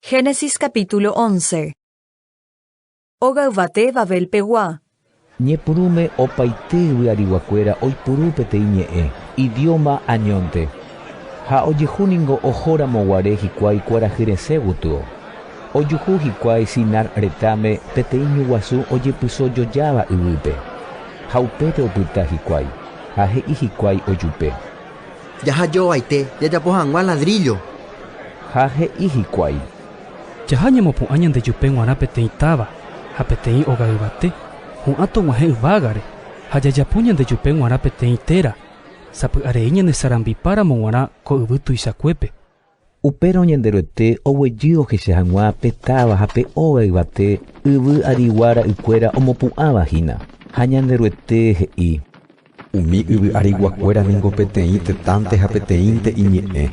Génesis capítulo 11 Óga yvate Babel pegua. Ñepyrũme opaite vy'ariguakuéra oipuru peteĩ ñe'ẽ, idióma añónte. Ha ojehu ningo ohóramo guare hikuái kuarahy resẽ gotyo. Ojuhu hikuái Sinar retãme peteĩ ñu guasu ojepyso jojáva yvýpe. Ha upépe opyta hikuái, ha he'i hikuái ojupe. Jahajovaite jajapo hag̃ua ladríllo. Ha he'i hikuái. Jaha ñamopu'ã ñandejupe g̃uarã peteĩ táva ha peteĩ óga yvate, ho'ã tog̃uahẽ yvágare, ha jajapo ñandejupe g̃uarã peteĩ téra, sapy'arei ñanesarambipáramo g̃uarã ko yvy tuichakuépe. Upérõ Ñanderuete oguejy ohecha hag̃ua pe táva ha pe óga yvate yvy arigua ra'ykuéra omopu'ãva hína. Ha Ñanderuete he'i. Umi yvy ariguakuéra ningo peteĩ tetãnte ha peteĩnte iñe'ẽ,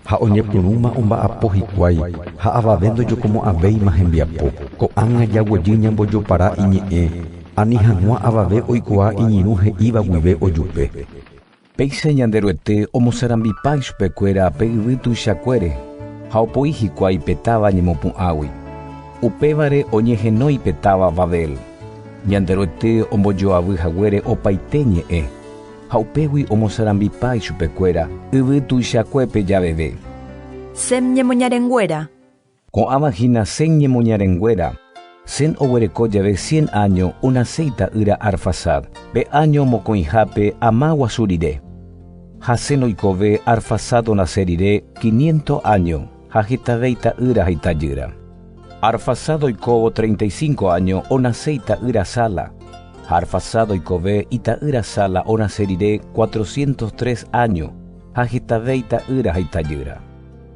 ha oñepyrũma omba'apo hikuái, ha avave ndojokomo'ãvéima hembiapo. Ko'ág̃a jaguejy ñambojopara iñe'ẽ, ani hag̃ua avave oikuaa iñirũ he'íva guive ojupe. Péicha Ñanderuete omosarambipa ichupekuéra pe yvy tuichakuére ha opoi hikuái pe táva ñemopu'ãgui. Upévare oñehenói pe táva Babel. Ñanderuete ombojoavy haguére opaite ñe'ẽ, ha upégui omosarambipa ichupekuéra yvy tuichakuépe javeve. Sem ñemoñarenguéra. Ko'ãva hína Sem ñemoñarenguéra. Sem oguereko jave cien áño onaséi ta'ýra Arfaxad, pe áño mokõihápe ama guasu rire. Ha Sem oikove Arfaxad onase rire quiniento áño ha hetavéi ta'ýra ha itajýra. Arfaxad oikóvo treinta y cinco áño onase ita'ýra Sala. Ha Arfaxad oikove ita'ýra Sala onase rire cuatrocientos tres áño ha hetavéi ta'ýra ha itajýra.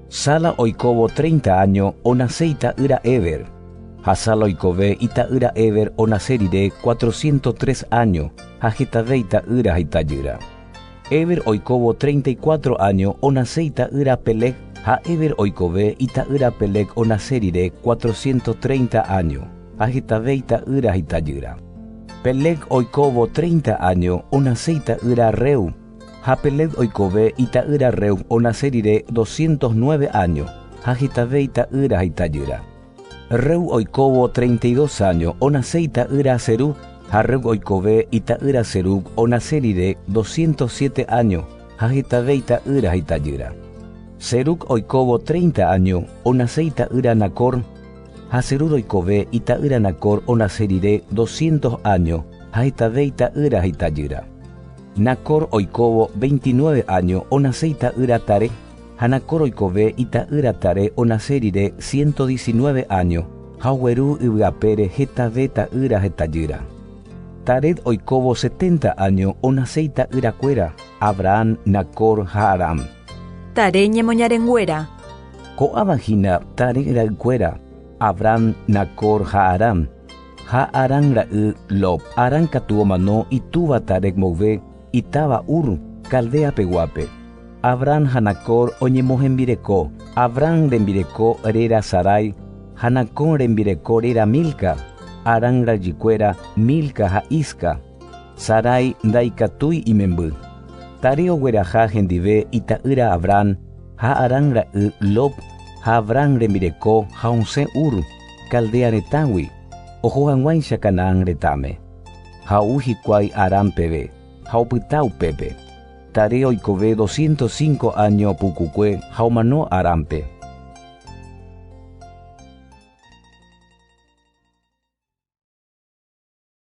Sala oikóvo treinta áño onase ita'ýra Eber, ha Sala oikove ita'ýra Eber onase rire cuatrociento tres áño ha hetave ita'ýra ha itajýra. Eber oikóvo treinta y cuatro áño onase ita'ýra Peleg, ha Eber oikove ita'ýra Peleg onase rire cuatrociento treinta áño ha hetave ita'ýra ha itajýra. Peleg oikóvo treinta áño onase ita'ýra Reu, Ha Peleg oikove ita'ýra Reu onase rire doscientos nueve áño, ha hetave ita'ýra ha itajýra. Reu oikóvo treinta y dos áño onase ita'ýra Serug, ha Reu oikove ita'ýra Serug onase rire doscientos siete áño, ha hetave ita'ýra ha itajýra. Serug oikóvo treinta áño onase ita'ýra Nacor, ha Serug oikove ita'ýra Nacor onase rire doscientos áño, ha hetave ita'ýra ha itajýra. Nacor oikóvo veintinueve áño onase ita'ýra Taré, ha Nacor oikove ita'ýra Taré onase rire ciento diecinueve áño, ha ogueru yvy apére hetave ta'ýra ha itajýra. Taré oikóvo setenta áño onase ita'yrakuéra, Abraham, Nacor ha Harán. Taré ñemoñarenguéra. Ko'ãva hína Taré ra'ykuéra, Abraham, Nacor ha Harán. Ha Harán ra'y Lod. Harán katu omano itúva Tarec mboyve itáva Ur, Caldea peguápe. Abram ha Nacor oñemohembireko, Abram rembireko réra Sarai ha Nacor rembireko réra Milca, Harán rajykuéra Milca ha Isca. Sarai ndaikatúi imemby. Tare ogueraha hendive ita'ýra Abram ha Harán ra'y Lod ha Abram rembireko ha osẽ Ur. Caldea retãgui, oho hag̃uáicha Canaán retãme. Ha ou hikuái Harán peve, ha opyta upépe. Taré oikove doscientos cinco áño pukukue ha omano Haránpe.